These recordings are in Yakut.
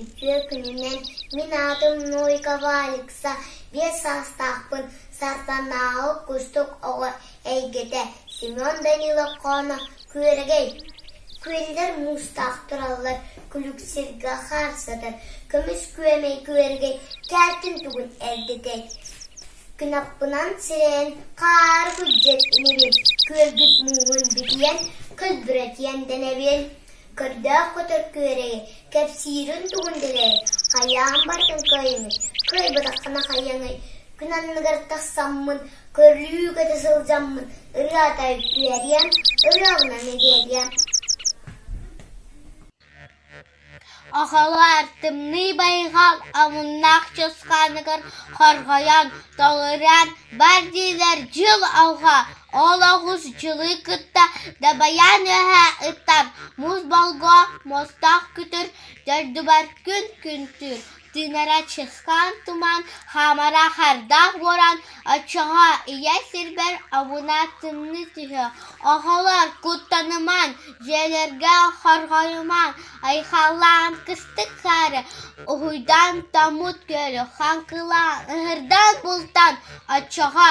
Үтүө күнүнэн мин аатым Нойкова Алекса биэс саастаахпын Сарданаҕа кустук оҕо эйгэтэ Семен Данилов хоно күөрэгэй Күөллэр муустаах тураллар күлүксэргэ хаарсатар Көмүс күөмэй күөрэгэй Кээтин тугун эрдэтэй Кынаппынан сирэйэн хаары күдьэт инибин Күөлбүт мууһун битийэн көлбүрэтийэн дэнэбин Көрдөөх көтөр күөрэйи кэпсиирин тугун билээй, хайаан бардын кыайымый, кыайбатаххына хайаҥый, күн анныгар тахсаммын, көрүү көтө сылдьаммын ырыата үөриэм, ырыабынан эдээриэм Охолоор, тымныы байҕал омуннаах чусхааныгар хорҕойон, тоҕуран бар диилэр дьыл алҕа Олоҕусчулуй кытта дабайан үөһэ ытар, муус болго мостоох күтүр дойдубар күн-күнтүүр тыынара чысхаан туман хаамара хардаах буолан оччоҕо ийэ сирбэр обуна тымныы түһүө. Оҕолор куттанымаҥ, дьиэлэргэ хорҕойумаҥ, айхаллаан кыстык хаары уһуйдан томмут күөлү хаҥкылаан ыһырдан бултан оччоҕо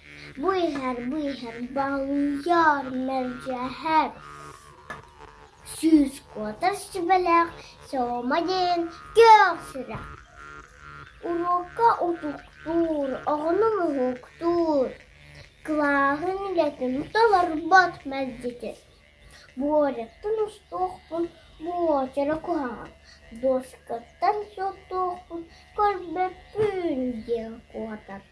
Бу иһэр, бу иһэр, балыйар мэлдьэһэр сүүс куотар сүбэлээх Сиома диэн күөх сирэ. Уруокка утуктуур, оҕону муһуктуур, кылааһын үлэтин толорбот мэлдьитин. Буоряттан устуохпун буочара куһаҕан, дуоскаттан суоттуохпун көрбөппүүн диэн куотар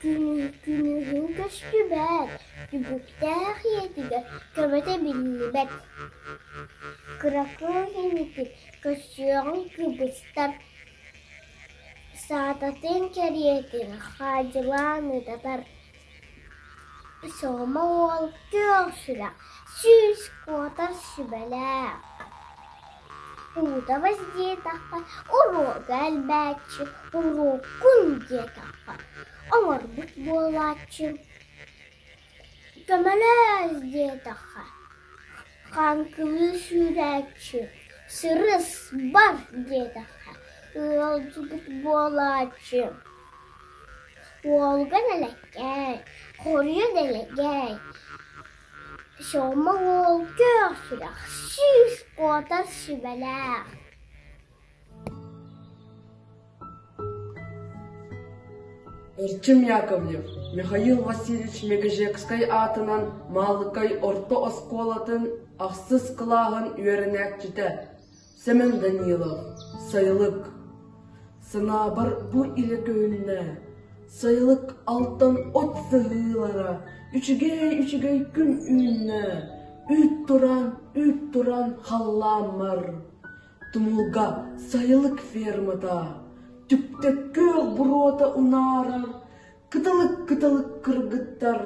Күнүһүн көстүбэт, түбүктээх ийэтигэр көбөтө биллибэт. Кыракый инитин көстүөҕүн кыбыстар, саататын кэриэтин хаадьылаан ытатар Сoma уол күөх сүрэх, сүүс куотар сүбэлээх, уута воздетахпар, уруога элбээччи, уруоккун диэтахпар оҥорбут буолааччы, көмөлөөс диэтэххэ, хаҥкылыы сүүрээччи, сырыс бар диэтэххэ ыалдьыбыт буолааччы Уолга дэлэккэй, хоруйа дэлэгэй, сёмма уол күөх сүрэх, сүүс уотар сүбэлээх Артем Яковлев, Михаил Васильевич Мегежекскай аатынан Маалыкай орто оскуолатын ахсыс кылааһын үөрэнээччитэ, Сэмэн Данилов, сайылык Санаабар бу илэ күһүннэ Сайылык алтан от сылыылара Үчүгэй-үчүгэй күн үүннэ Үүт туран, үүт туран халлааммар Тумулга сайылык фермата Түптөккө буруота унаара Кытылык-кытылык кыргыттар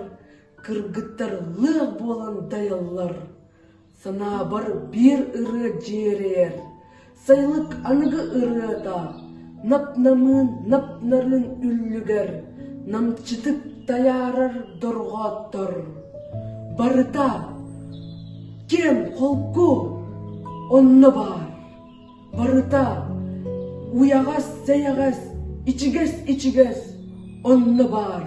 Кыргыттар лыах буолан дайаллар Санаабар биир ырыа дьиэрэйэр, Сайылык аныгы ырыата, Нап-намыын нап-нарын үллүгэр, Намчытык тайаарар дорҕооттор. Барыта киэм холку, онно баар. Барыта уйаҕас-сэйэҕэс, ичигэс-ичигэс, онно баар.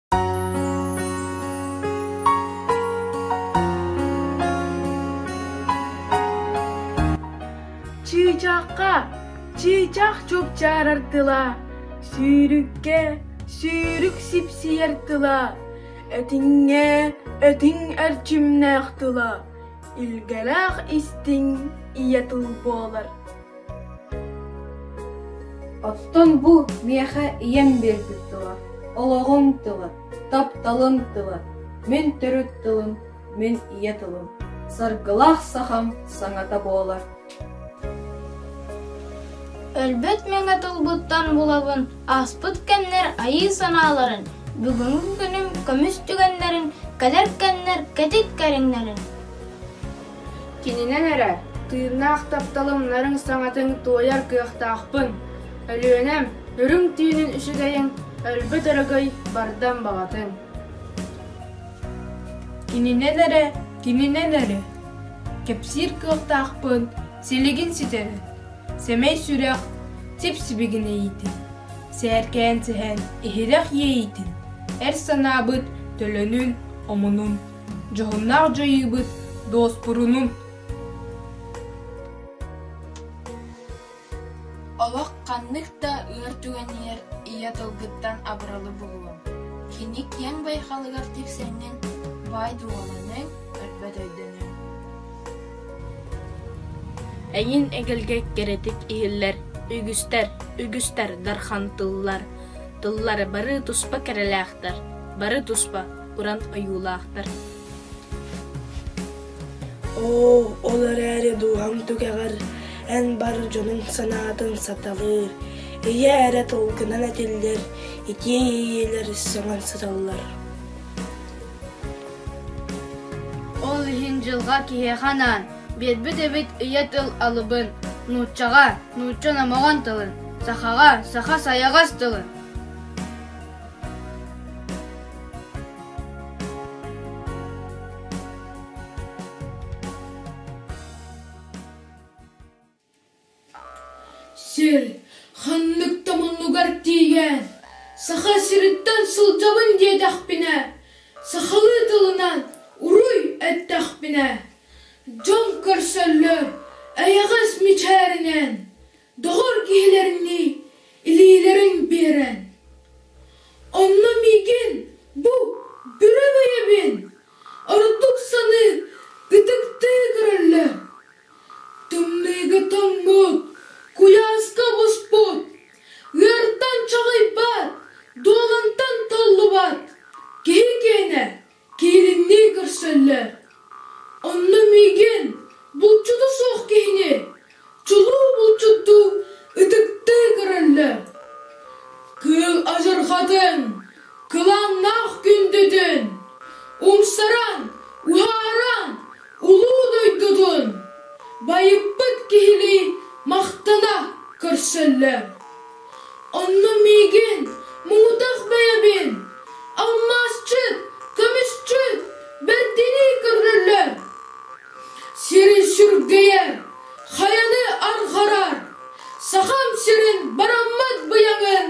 Чыычахха чыычах чупчаарар тыла, сүүрүккэ сүүрүк сипсийэр тыла, этиҥҥэ этиҥ эрчимнээх тыла, илгэлээх истиҥ ийэ тыл буолар. Оттон бу миэхэ ийэм биэрбит тыла, олоҕуҥ тыла, тапталыҥ тыла, мин төрүт тылым, мин ийэ тылым, саргылаах сахам саҥата буолар Өлбөт мэҥэ тылбыттан булабын Ааспыт кэмнэр айыы санааларын Бүгүҥҥү күнүм көмүс түгэннэрин Кэлэр кэмнэр кэтит кэриҥнэрин Кининэн эрэ, тыыннаах тапталым нарыҥ саҥатын туойар кыахтаахпын. Өлүөнэм, үрүҥ түүнүн үчүгэйин, өлбүт өрөгөй бардам баҕатын. Кининэн эрэ, кининэн эрэ. Кэпсиир кыахтаахпын, силигин ситэрэн. Сэмэй сүрэх, сип-сибигин эйитин. Сээркээн сэһэн, иһирэх иэйитин. Эр санаабыт төлөнүн, омунун. Дьоһуннаах дьайыыбыт дуоспурунун! Олох ханнык да ыар түгэнигэр ийэ тылгыттан абыралы буолуоҥ. Кини киэҥ байҕалыгар тиксэҥҥин баай дууһаланыаҥ, өлбөт өйдөнүөҥ. Эҥин эгэлгэ кэрэтик иһиллэр үгүстэр, үгүстэр дархан тыллар. Тыллары бары туспа кэрэлээхтэр, бары туспа уран ойуулаахтар оо ол эрээри дууһам түгэҕэр эн бар дьонуҥ санаатын саталыыр ийэ эрэ тылгынан этиллэр итии иэйиилэр сөҥөн сыталлар ол иһин дьылҕа киһиэхэ анаан биэрбит эбит ийэ тыл алыбын нууччаҕа нуучча номоҕон тылын сахаҕа саха сайаҕас тылын Сир ханнык да муннугар тиийэн Саха сириттэн сылдьабын диэтэхпинэ, сахалыы тылынан уруй эттэхпинэ, дьон көрсөллөр эйэҕэс мичээринэн доҕор киһилэринии илиилэрин биэрэн онно миигин бу бырабыйабын ордук саныы ытыктыы көрөллөр тымныыга тоҥмут куйааска буспут ыыртан чаҕыйбат дуолунтан толлубат киһи киэнэ Киириннии көрсөллөр. Онно миигин, булчута суох киһини, чулуу булчуттуу ытыктыы көрөллөр. Кыыл адьырҕатын, кылааннаах күндүтүн, умсаран, уһааран улуу дойдутун байыппыт киһилии махтана көрсөллөр. Онно миигин муҥутах бэйэбин алмаасчыт, көмүсчүт бэрдинии көрдөллөр, сирин сүргэйэр, хайаны арҕарар, Сахам сирин бараммат быйаҥын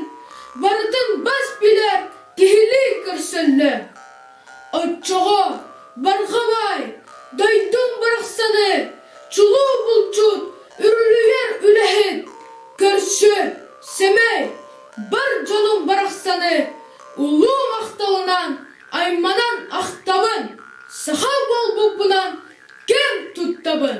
барытын бас билэр киһилии көрсөллөр Оччоҕо Барҕалай дойдун барахсаны чулуу булчут үрүлүйэр үлэһит, көрсү, сэмэй, бар дьонун барахсаны улуу махталынан, айманан ахтабын, саха буолбуппунан кэм туттабын.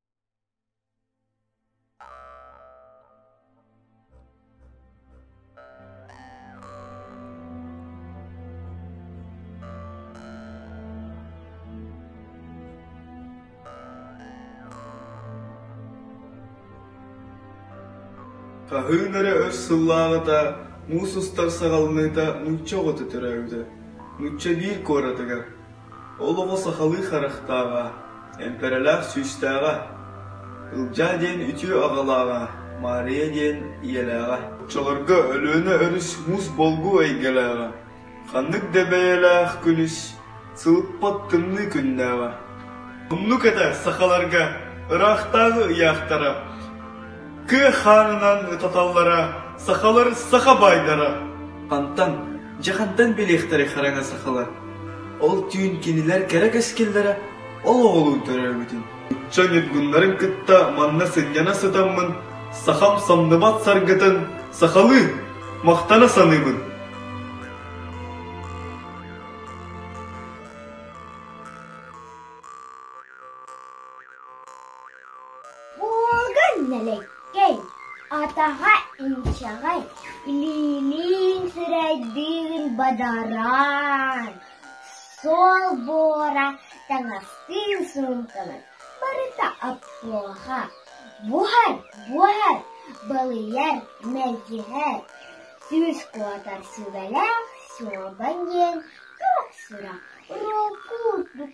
Хаһыын эрэ өр сыллааҕыта муус устар саҕаланыыта нуучча оҕото төрөөбүтэ. Нуучча биир куоратыгар Ол оҕо сахалыы харахтааҕа, эмпэрэлээх сүүстээҕэ, Ылдьаа диэн үтүө аҕалааҕа, Маарыйа диэн ийэлээҕэ, оччолорго Өлүөнэ өрүс муус болгуу эйгэлээҕэ, ханнык да бэйэлээх күнүс сылыппат тымныы күннээҕэ. Умнук этэ сахаларга, ыраахтааҕы ыйаахтара. Кыа хаанынан ытаталлара сахалар саха баайдара. Хантан, дьахантан билиэхтэрий хараҥа сахалар? Ол түүн кинилэр кэрэ кэскиллэрэ ол оҕолуу төрөөбүтүн. Ычча ньургуннарын кытта манна сынньана сытаммын, сахам самныбат саргытын сахалыы махтана саныыбын. Ууга нэлэккэй, атаҕа инчэҕэй, илиилиин сирэйдиин бадараан, суол буора таҥастыын суумкалан барыта оптуоха, буһар, буһар, балыйар, мэлдьиһэр, сүүс куотар сүбэлээх суобан диэн көх-сүрэх, уруок куурдук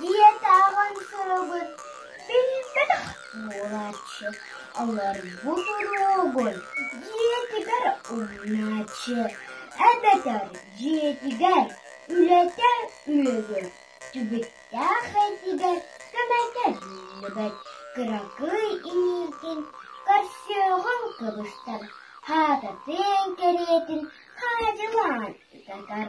Диэтэҕин сыабын билбэтэх буолааччы, олор бу туругун дьиэтигэр умнааччы, эбэтэр дьиэтигэр үлэтэ үөдүр, түбүктээх этигэр көмөтөллүбэт кыракый иниитин көрсүөҕүҥ кыбыстар, хаатытын кэриэтин хаадьылаан ытатар.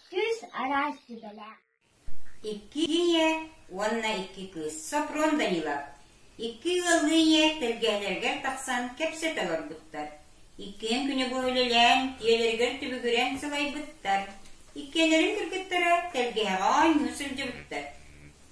Сүүс араас сүбэлээх. Икки ийэ уонна икки кыыс Софрон Данилов икки ыаллыы ийэ тэлгэһэлэригэр тахсан кэпсэтэ олорбуттар. Иккиэн күнүгө үлэлээн, ийэлэригэр түбүгүрэн сылайбыттар. Иккиэлэрин кыргыттара тэлгэһэҕэ оонньуу сылдьыбыттар.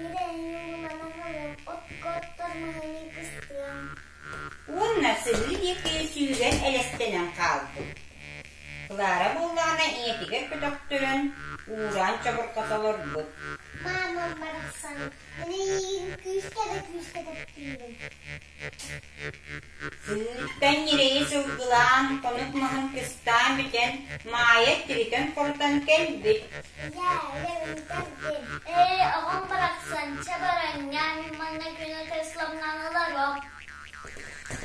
Бэрээнньэҥ ылан аҕалыам, отко-оттор маһыныы кыстыам. Уонна сырыы диэки сүүрэн элэстэнэн хаалбыт. Клара буоллаҕына ийэтигэр көтөхтөрөн, уураан чабырҕата олорбут. Маамам барахсан, мин эйиигин күүскэ да күүскэ таптыыбын. Сыыртан ньирэйи сылгылаан, хонук маһын кыстаан бүтэн, Маайа тиритэн хорутан кэлбит. Ээ, оҕом барахсан, чабаранньан, манна күнэ кресломнаналаров.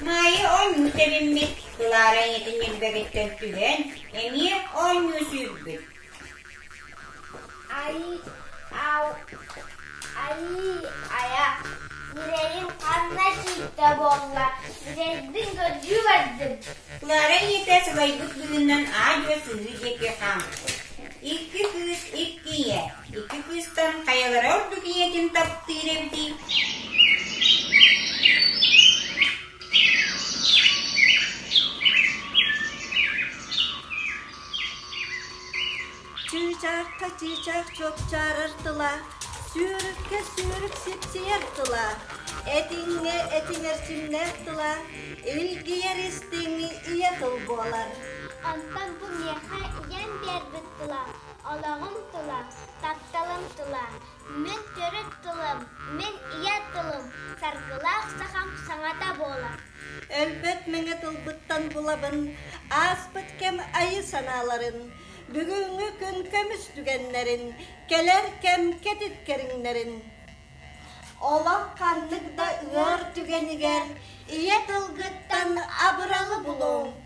Маайа оонньуу тэбиммит, Клара ийэтин ньилбэгиттэн түһэн, эмиэ оонньуу сүүрбүт. Айыы айа, үрэйим ханна киирдэ буолла, үрэйдин көрдүү бардым Клара ийэтэ сылайбыт быһыынан аа-дьуо сыһыы диэки хаампыт. Икки кыыс икки ийэ, икки кыыстан хайалара ордук ийэтин таптыыр эбитий? Чыычаахха чыычаах чопчаарар тыла, Сүөрүккэ сүөрүк сипсийэр тыла, Этиҥҥэ этиҥэр симнээх тыла, Илгийэр истиҥи ийэ тыл буолар. Онтон бу миэхэ ийэм биэрбит тыла, Олоҕум тыла, тапталым тыла, Мин төрүт тылым, мин ийэ тылым Саргылаах сахам саҥата буолар. Өлбөт мэҥэ тылбыттан булабын Ааспыт кэм айы-санааларын, Бүгүҥҥү күн көмүс түгэннэрин, Кэлэр кэм кэтит кэриҥнэрин. Олох ханнык да ыар түгэнигэр Ийэ тылгыттан абыралы булуҥ,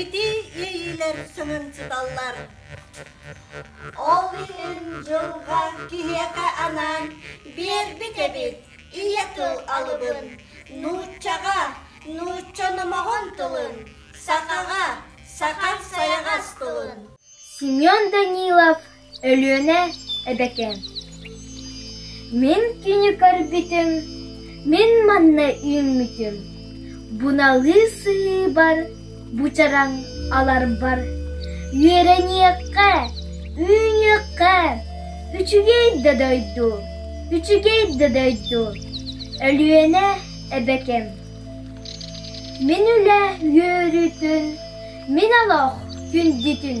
Ити иэйиилэр чуһумчуталлар. Ол иһин дьылҕа киһиэхэ анаан биэрбит эбит, ийэ тыл алыбын, нууччаҕа, нуучча номоҕун тылын, сахаҕа, саха сайаҕас тылын. Семен Данилов Өлүөнэ эбэтэ «Мин кинини көрбүтүм, мин манна үүммүтүм, буналыы сыһыыбар бучараҥ аларбар, үөрэниэххэ, үүнүөххэ, үчүгэй да дойду, үчүгэй да дойду, Өлүөнэ эбэкэм, мин үлэ үөрүүтүн, мин олох күндүтүн»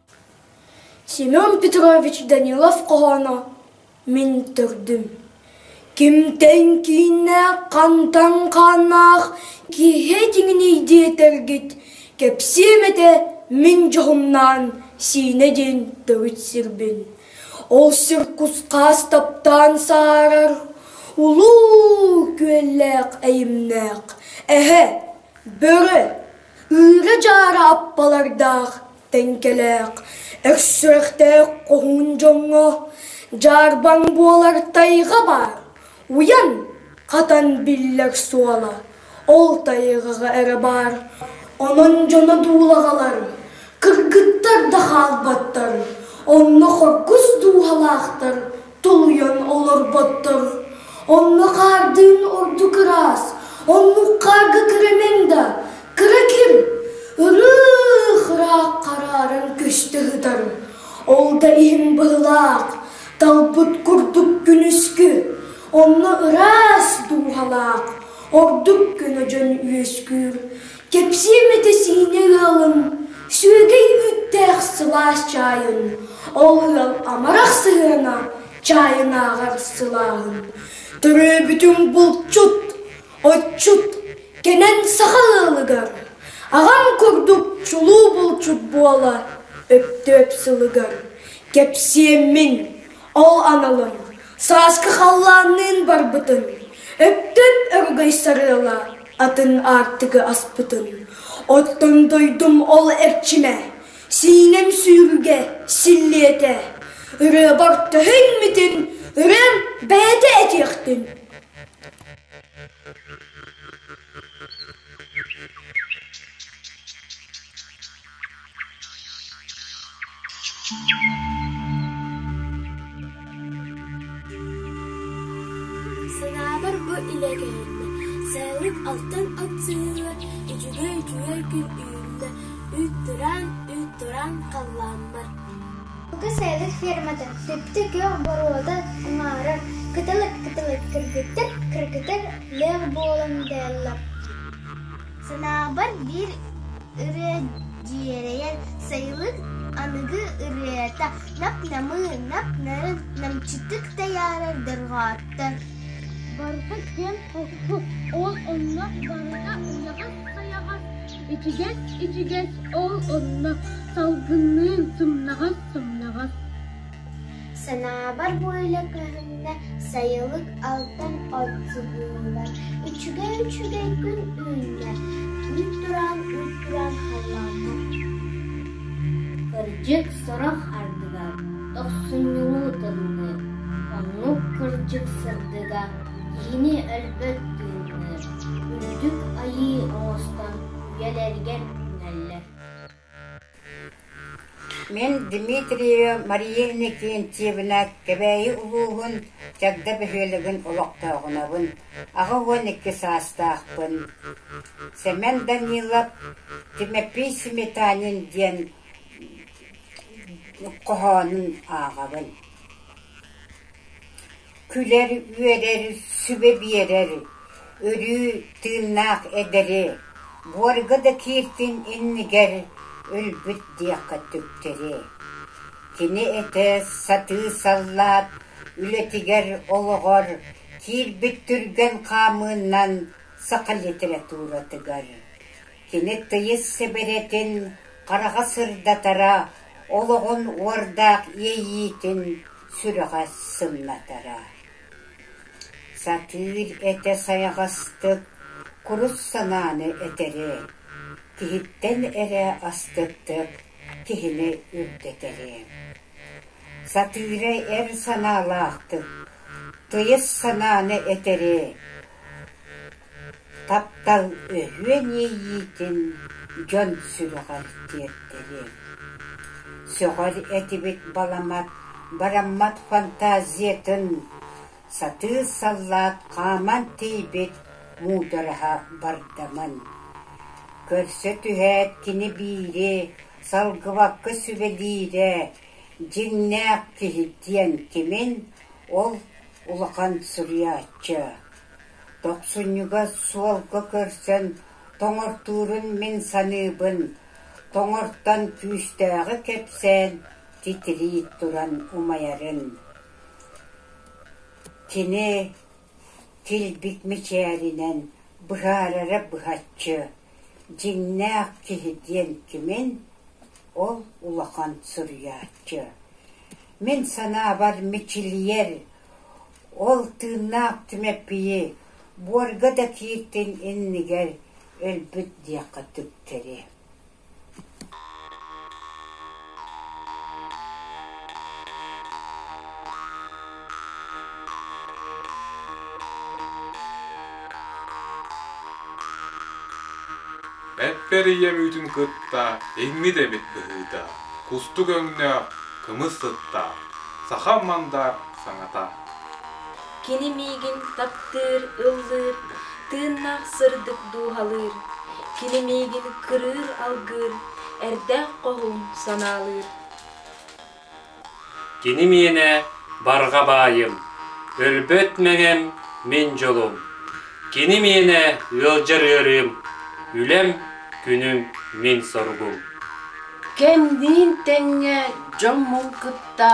Семен Петрович Данилов-хоһооно Мин төрдүм Кимтэн кииннээх, хантан хааннаах Киһи дьиҥиний диэтэргит Кэпсиэм этэ мин дьоһумнаан Сиинэ диэн төрүт сирбин Ол сир кус-хаас таптаан сааһырар Улуу күөллээх эйимнээх Эһэ, бөрө, ыыра-дьаара аппалардаах Тэҥкэлээх, өс сүрэхтээх хоһуун дьоҥҥо дьаарбаҥ буолар тайҕа баар, уйан, хатан биллэр суола ол тайҕаҕа эрэ баар, онон дьоно дуулаҕалар, кыргыттар да хаалбаттар, онно хоргус дууһалаахтар Тулуйан олорботтор. Онно хаардыын орду кыраас, оннук хаарга кырамаҥ да, кыра ким, ырыых ыраах хараарын көстө сытар. Ол да иһин быһылаах, талбыт курдук күнүскү, онно ыраас дууһалаах, ордук көнө дьон үөскүүр. Кэпсиэм этэ-сиинэ ыалын, сүөгэй үүттээх сылаас чаайын, ол ыал амарах сыһыана чаайынааҕар сылааһын. Төрөөбүтүм булчут, отчут, кэнэн саха ыалыгар, аҕам курдук чулуу булчут буола өптөөп сылыгар. Кэпсиэммин, ол аналын, сааскы халлаанныын барбытын, өптөөп өрүгэй сарыала атын аартыгы аспытын оттон дойдум ол эрчимэ сиинэм сүүрүгэ силлиэтэ ырыабар төһүммүтүн ырыам бэйэтэ этиэхтин Санаабар бу илэ кэлиннэ, сээник алтан атыылар үчүгэй үчүгэй күн үүннэ, үүт тураан, үүт тураан халлааммар. Бука сээдэр ферматын сүптэ күөх боруода уҥаарар кытылык кытылык кыргыттар кыргытар лээх буолан дээллэр Санаабар биир ырыа дьиэрэйэн сайылык аныгы ырыата нап-намыы, нап-нарын намчытык тайаарар дорҕоотто Барыта киэн холку, ол онно барыта уйаҕас-хайаҕас, ичигэс-ичигэс, ол онно салгынныын сымнаҕас-сымнаҕас Санаабар бу үлэ көһүннэ сайылык алтан отзывыыллар үчүгэй-үчүгэй күн үүннэ үүт тураан үүт тураан халлааннаах Кырдьык сорох ардыгар тохсунньулуу тыллыыр Оннук кырдьык сырдыга киһини өлбөт тыынныыр Үрдүк Айыы оҥостон үйэлэригэр үүнэллэр Мин Дмитриева Мария Иннокентьевна Кэбээйи улууһун Чагда бөһүөлэгин олохтооҕунабын, аҕа уон икки саастаахпын. Сэмэн Данилов Тимофей Сметанин диэн хоһоонун ааҕабын Күлэр-үөрэр, сүбэ биэрэр өрүү тыыннаах эдэри буорга да кииртин иннигэр өлбүт диэххэ түктэри кини этэ сатыы саллаат үлэтигэр олоҕор киирбит түргэн хаамыынан саха литературатыгар Килэктэйиэс сэбэрэтин хараҕа сырдатара, олоҕун уордаах иэйиитин сүрэҕэ сымнатара. Сатыыр этэ сайаҕастык, курус санааны этэри, киһиттэн эрэ астыктык киһини үрдэтэри. Сатыыра эр санаалаахтык, тыйыс санааны этэри, Таптал өһүөн иэйиитин дьон сүрэҕэр тиэртэлиэм, сөҕөр этибит баламат бараммат фантазиятын сатыы саллаат хааман тиийбит муудараһа бардамын, көрсө түһээт кини биири салгыбакка сүбэлиирэ дьиҥнээх киһи диэн кимин ол улахан суруйааччы Тохсунньуга суолга көрсөн тоҥортуурун мин саныыбын, тоҥортон күүстээҕи кэпсээн, титирии туран умайарын кини килбик мичээринэн быһаарара быһаччы дьиҥнээх киһи диэн кимин, ол улахан суруйааччы. Мин санаабар, мичилийэр, Ол тыыннаах Түмэппийи буорга да кииртин иннигэр өлбүт диэххэ түктэри Эппэр ийэ мүөтүн кытта иҥмит эбит быһыыта, кустук өҥнөөх, кымыс сыттаах, саха мандаар саҥата. Кини миигин таптыыр, ыллыыр, тыыннаах сырдык дууһалыыр. Кини миигин кырыыр-алгыыр, эрдээх-хоһуун санаалыыр. Кини миэнэ барҕа баайым, өлбөт мэҥэм мин дьолум. Кини миэнэ ыалдьар ыарыым, үлэм, күнүм мин соругум. Кэмниин тэҥҥэ дьоммун кытта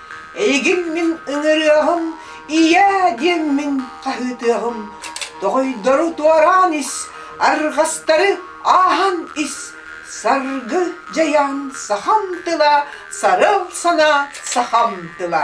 Эйигин мин ыҥырыаҕым, ийээ диэн мин хаһыытыаҕым. Тоҕойдору туораан ис, арҕастары ааһан ис, саргы дьайаан сахам тыла, сарыл санаа сахам тыла.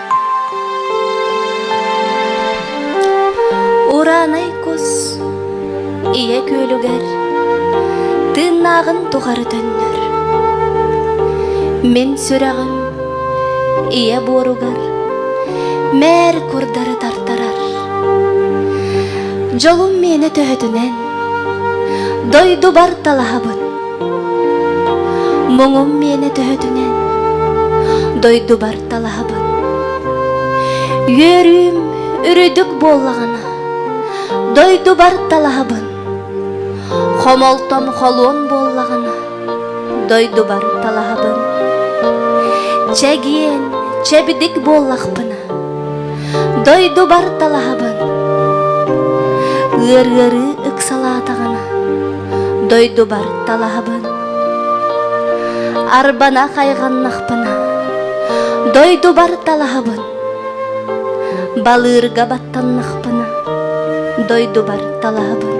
Ураанай кус ийэ күөлүгэр тыыннааҕын тухары төннөр. Мин сүрэҕим ийэ буоругар мээр курдары тартарар. Дьолум миэнэ төһөтүнэн дойдубар талаһабын. Муҥум миэнэ төһөтүнэн дойдубар талаһабын үөрүүм үрдүк буоллаҕына дойдубар талаһабын хомолтом холуон буоллаҕына дойдубар талаһабын чэгиэн чэбдик буоллахпына дойдубар талаһабын ыар ыарыы ыксалаатаҕына дойдубар талаһабын арбана хайҕаннахпына дойдубар талаһабын балыырга баттаннахпына дойдубар талаһабын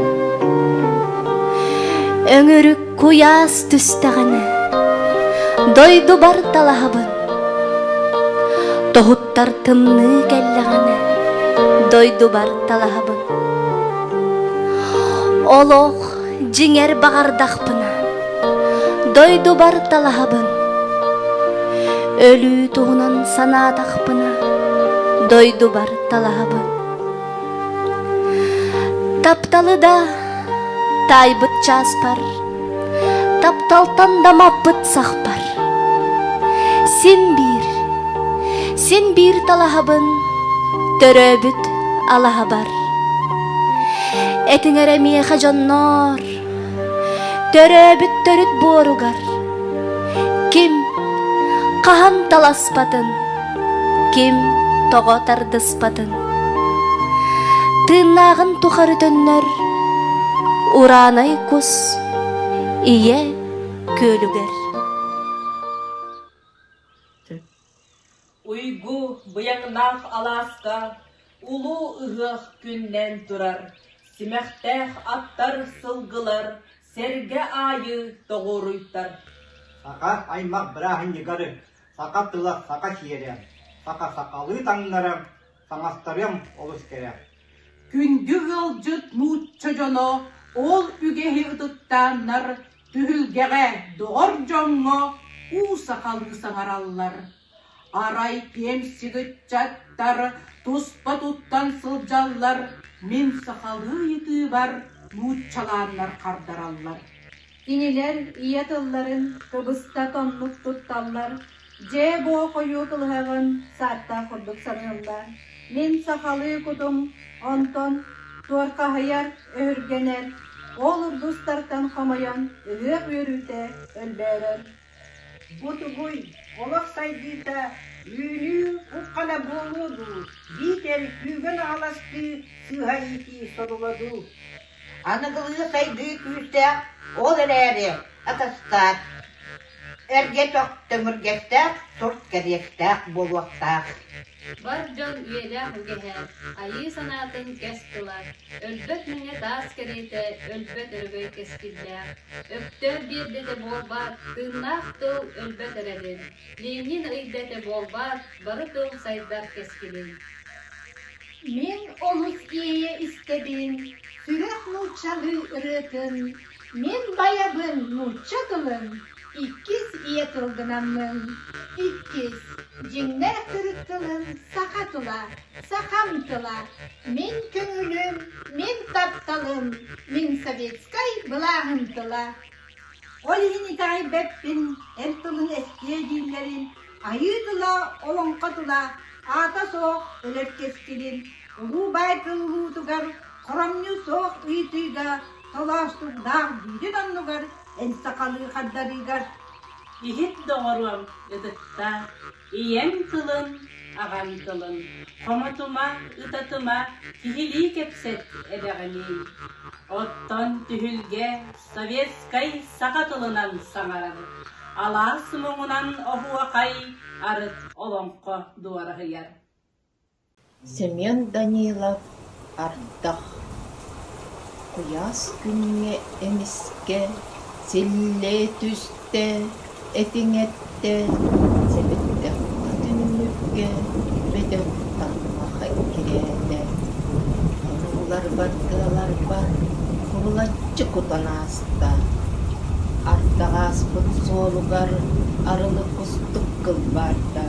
өҥүрүк куйаас түстэҕинэ дойдубар талаһабын тоһуттар тымныы кэллэҕинэ дойдубар талаһабын олох дьиҥэр баҕардахпына дойдубар талаһабын өлүү туһунан санаатахпына дойдубар талаһабын тапталы да таайбыт чааспар тапталтан да маппыт сахпар син биир Син биир талаһабын, төрөөбүт алаһабар. Этиҥэр эмиэхэ дьонноор, төрөөбүт төрүт буоругар. Ким хаһан таласпатын, ким тоҕо тардыспатын. Тыыннааҕын тухары төннөр ураанай кус ийэ күөлүгэр. Уйгу быйаҥнаах алааска Улуу Ыһыах күннээн турар, Симэхтээх аттар сылгылар Сэргэ аайы тоҕуоруйтар Саха аймах бырааһынньыгары, Саха тыла, саха сиэрэ, Саха сахалыы таҥнара Таҥастарыам олус кэрэ. Күндү ыалдьыт нуучча дьоно ол үгэһи ытыктааннар түһүлгэҕэ доҕор дьоҥҥо уу сахалыы саҥараллар. Арай пиэмсик ыччаттар туспа туттан сылдьаллар, мин сахалыы ытыыбар нууччалааннар хардараллар Кинилэр ийэ тылларын кыбыста тоннук тутталлар, дьээ-боо хойуу кылыһаҕын сааттаах курдук саныыллар. Мин сахалыы кутум онтон туорхаһыйар, өһүргэнэр, ол ургустартан хомойон ыһыах үөрүүтэ өлбөөрөр. Бу тугуй, олох сайдыыта үүнүү кук-хана буолуо дуу, биитэр күүгэн аһаластыы сыыһа иитии содула дуу? Аныгылыы-сайдыы күүстээх ол эрээри атастаах, эргэ-тох төҥүргэстээх турт кэриэстээх буолуохтаах. Бар дьон үйэлээх үгэһэ, айыы санаатын кэс тыла Өлбөт мэҥэ таас кэриэтэ, өлбөт өрөгөй кэскиллээх, Өктөөп биэрбэтэ буолбат, тыыннаах тыл өлбөт эрэлин, Ленин ыйбэтэ буолбат, бары тыл сайдар кэскилин. Мин олус иэйэ истэбин сүрэх нууччалыы ырыатын, Мин байабын нуучча тылын, Иккис ийэ тыл гынаммын, Иккис, дьиҥнээх төрүт тылын саха тыла Сахам тыла, мин көҥүлүм, мин тапталым, мин советскай былааһым тыла. Ол иһин итэҕэйбэппин, эр тылын эстиэ дииллэрин, айыы тыла, олоҥхо тыла, аата суох өлөр кэскилин, улуу баай кыыллыытыгар, хоромньу суох ыйытыыга, толоостуктаах дьүүлүн оннугар, эн сахалыы хардарыыгар. Иһит доҕоруом, ытыктаа. Ийэҥ тылын, аҕаҥ тылын хомотума, ытатыма, киһилии кэпсэт эбэҕиний? Оттон түһүлгэ советскай саха тылынан саҥарар, алаас муҥунан оһуохай арыт олоҥхо дуораһыйар. Семен Данилов ардах куйаас күҥҥэ эмискэ силлиэ түстэ, этиҥэттэ, сэбирдэх уҥа түннүккэ бөтөн таҥма хэккирээтэ, тобулларбардыаларбар кубулаччы кутан ааста, ардах ааспыт суолугар арылы кустук кылбаарда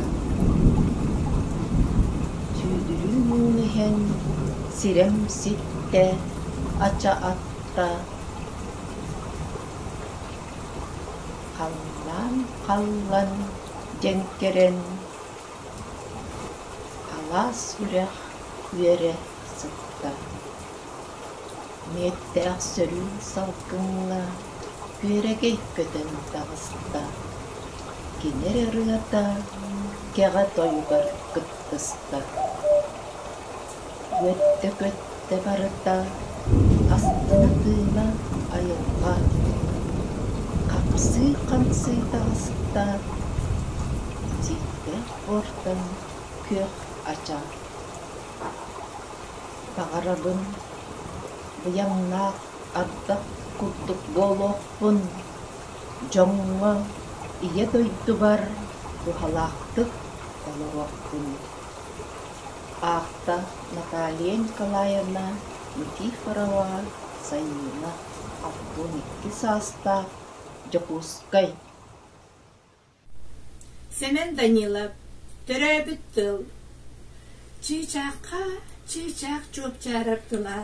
Сүүдүрүү муҥун иһэн сирэм ситтэ, ача атта, халлаан халлан дьэҥкэрэн, алаас үрэх үөрэ сытта Мүөттээх сөрүүн салгыҥҥа күөрэгэй көтөн таҕыста, кини эрэ ырыата кэҕэ тойугар кыттыста Үөттэ-көттө барыта астына тыына айылҕа Хапсыы-хамсыы таҕыста Дьиктэх буортан күөх ача Баҕарабын быйаҥнаах ардах курдук буолуохпун, дьоҥҥо Ийэ дойдубар туһалаахтык олоруохпун. Аахта Наталья Николаевна Никифорова Сайыына, албан икки саастаах Дьокуускай Сэмэн Данилов, төрөөбүт тыл Чыычаахха чыычаах чуопчаарар тыла,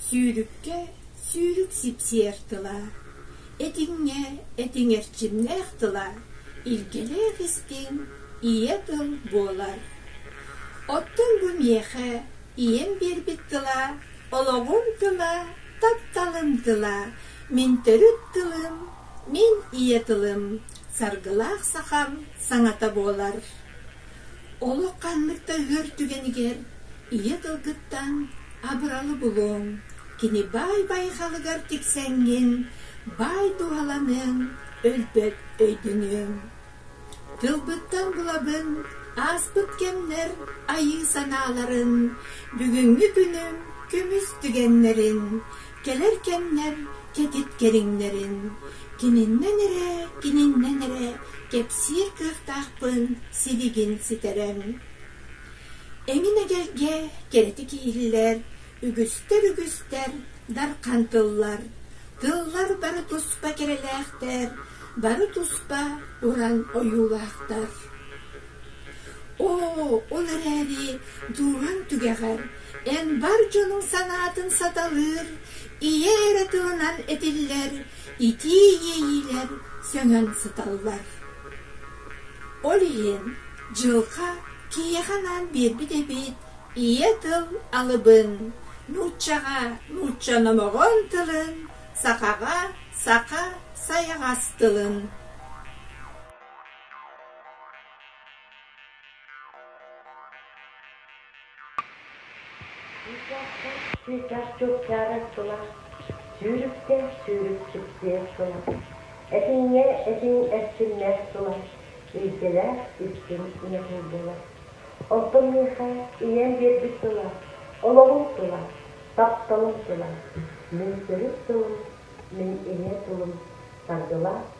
сүүрүккэ сүүрүк сипсиэр тыла, этиҥҥэ этиҥ эрчимнээх тыла, илгилээх истиҥ ийэ тыл буолар. Оттон бу миэхэ ийэм биэрбит тыла олоҕум тыла, тапталым тыла, мин төрүт тылым Мин ийэ тылым Саргылаах сахам саҥата буолар. Олох ханнык да үөр түгэнигэр ийэ тылгыттан абыралы булуоҥ, кини баай-байҕалыгар тиксэҥҥин, баай туһаланыаҥ, өлбөт өйдөнүөҥ. Тылбыттан булабын ааспыт кэмнэр айыы санааларын, бүгүҥҥү күнүм күмүс түгэннэрин, Кэлэр кэмнэр кэтит кэриҥнэрин кининнэн эрэ, кининнэн эрэ кэпсиир кыахтаахпын сибигин ситэрэн. Эҥин эгэлгэ кэрэтик иһиллэр, үгүстэр-үгүстэр дархан тыллар, тыллар бары туспа кэрэлээхтэр, бары туспа уран ойуулаахтар. Оо, ол эрээри дууран түгэҕэр Эн бар дьонуҥ санаатын саталыыр, ийэ эрэ тылынан этиллэр, итии иэйиилэр сөҥөн сыталлар. Ол иһин дьылҕа киһиэхэ анаан биэрбит эбит ийэ тыл алыбын, нууччаҕа нуучча номоҕон тылын, сахаҕа саха сайаҕас тылын. Светяш чугчаарар тула сүүрүккэ сүүрүкчүктүө тула, этиҥҥэ этиҥ эрчимнээх тула илдьэлээх иккин ньукул була. Онтон миэхэ ийэм биэрбит тула, олоҕум тула, тапталым тула, мин төрүт тылым, мин ийэ тылым тардылаах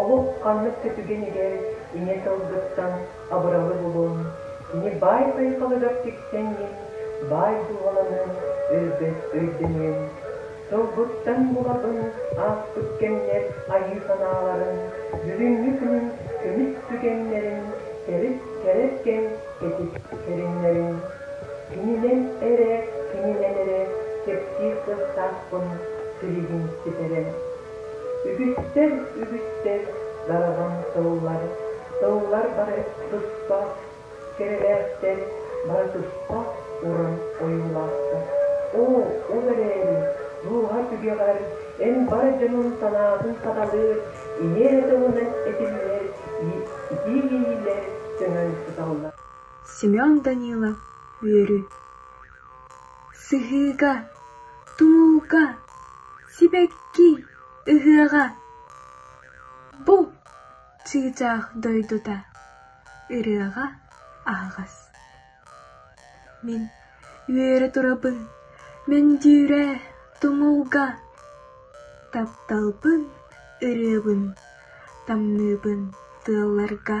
Олох ханнык көтүгэн-игэн ийэ сылгыттан абыралы булун, кини баай сайхалыгар тиксэҥҥин, баай дууһаланыҥ, өлбөт өйдөнүөҥ. Сылгыттан булабын ааспыт кэмнэр айыы санааларын, бүгүҥҥү күн көмүс түгэннэрин төрүт кэрэ кэм кэтит көрүҥнэрин. Кининэн эрэ, кининэн эрэ кэпсиир кыахтаахпын силигин ситэрэ. Үгүстэр, үгүстэр дараҕын тыллар, тыллар бары туспа кэрэлээхтэр, бары туспа уран ойуулаахтар. Оо, ол эрээри, дууһа түгэҕэр эн бар дьонун санаатын саталыыр, иһиэһэ тылынан этиллэр иитиилэһиилэр төһөн сыталлар? Семен Данилов үөрү. Сыһыыга, тумулга, сибэкки ыһыаҕа бу чыычаах дойдута ырыаҕа аһаҕас. Мин үөрэ турабын, мөндүүрэ, тумулга тапталбын, ырыабын тамныыбын тыалларга.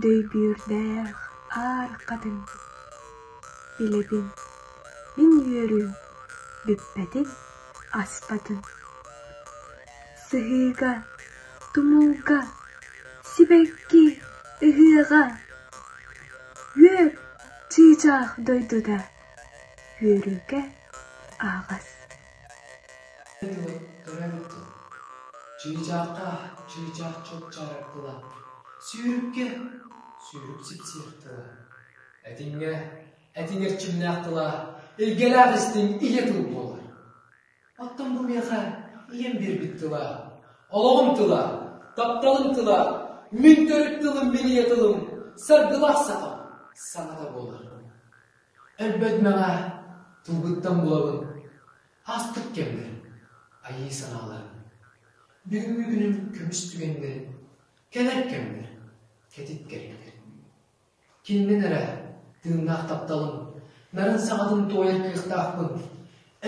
Дөйбүөрдээх аар хатыҥ, билэбин мин үөрүөм бүппэтин аспатын, сыһыыга, тумулга, сибэкки ыһыаҕа, үөр чыычаах дойдута үөрүүгэ аһаҕас. Чыычаахха, чыычаах чупчарыктылар. Сүүрүккэ, сүүрүк сипсиэхтила. Этиҥҥэ, этиҥ эрчимнээхтила. Илгэлээх истиҥ ийэ тыл буолар. Оттон бу миэхэ ийэм биэрбит тыла. Олоҕум тыла, тапталым тыла, мин төрүт тылым, минийэ тылым, саргылаах сахам саҥата буолар. Өлбөтмэҕэ тылбыттан буолабын астык кэммэр айыы санааларым бүгүҥҥү күнүм көмүс түгэннэрин кэлэр кэммэр кэтит кэриэтэр кининэн эрэ тыыннаах тапталым нарын саҕатын туойар кыахтаахпын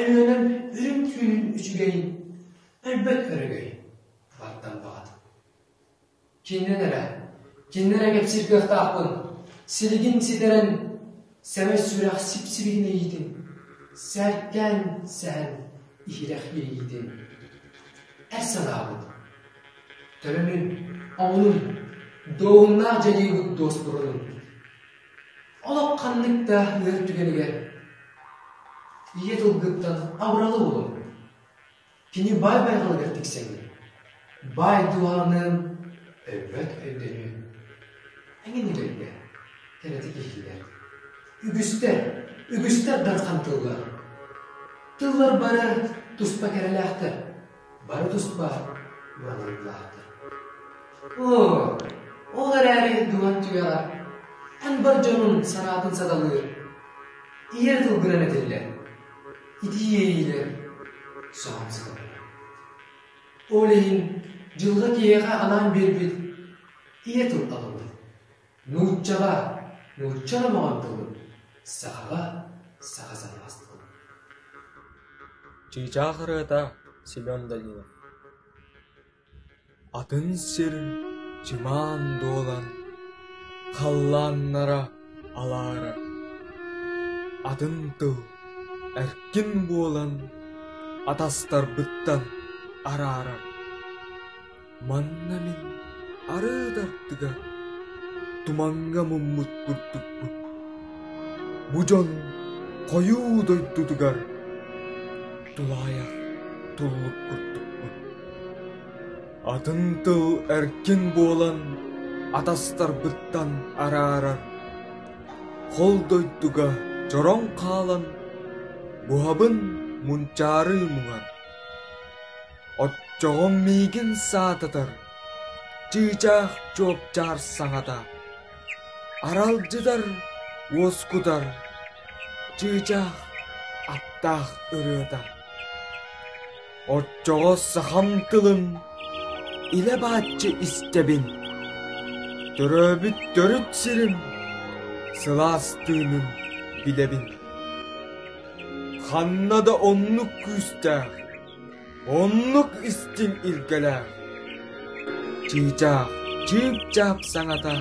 өлүөнэм үрүҥ түүнүн үчүгэйин өлбөт өрөгөй баттан баҕатын Кининэн эрэ, кининэн эрэ кэпсиир кыахтаахпын. Силигин ситэрэн, сэмэй сүрэх сип-сибигин иһиитим. Сэргээн сэһэн иһирэх иһиитим. Эр санаабыт, төлөнүн, омунун, дуоһуннаах дьайыыбыт дуоспурунун. Олох ханнык да ыар түгэнигэр ийэ тылгыттан абыралы булун. Кини баай байҕалыгар тиксэҥҥин, баай дууһаҕыныын өлбөт өйдөнүө. Эҥин өлөргө тэлэтэ киһилэр. Үгүстэр, үгүстэр дархан тыллар. Тыллар бары туспа кэрэлээхтэр, бары туспа мыраналлаахтар. Оо, ол эрээри дулан түгэҕэр эн бар дьонун санаатын саталыыр, ийэ тылгынан этиллэр. Ити иэйиилэр соһон сыталлар. Ол иһин дьылга киһиэхэ анаан биэрбит ийэ тутталыбыт. Нууччаҕа, нуучча омоҕон тылын, сахаҕа, саха саҥаластылын. Чыычаах ырыата Семен Данилов Атын сир чымаан дуолан халлааннара алаара, атын тыл эркин буолан атастарбыттан араара. Манна мин арыт аттыгар туманга муммут курдукпун. Бу дьон хойуу дойдутугар тулаайах туолук курдукпун атын тыл эркин буолан атастарбыттан араарар хол дойдуга чороҥ хаалан буһабын мунчаарыы муҥар оччоҕум миигин саататар чыычаах чуопчаар саҥата Аралдьытар, уоскутар, чыычаах, аттаах ырыата. Оччоҕо сахам тылын илэ бааччы истэбин. Төрөөбүт төрүт сирим, сылаастыынын билэбин. Ханна да оннук күүстээх Оннук истил илгэлээх, чыычаах чыыпчаап саҥата,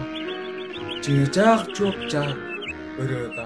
чыычаах чуопчаак ырыата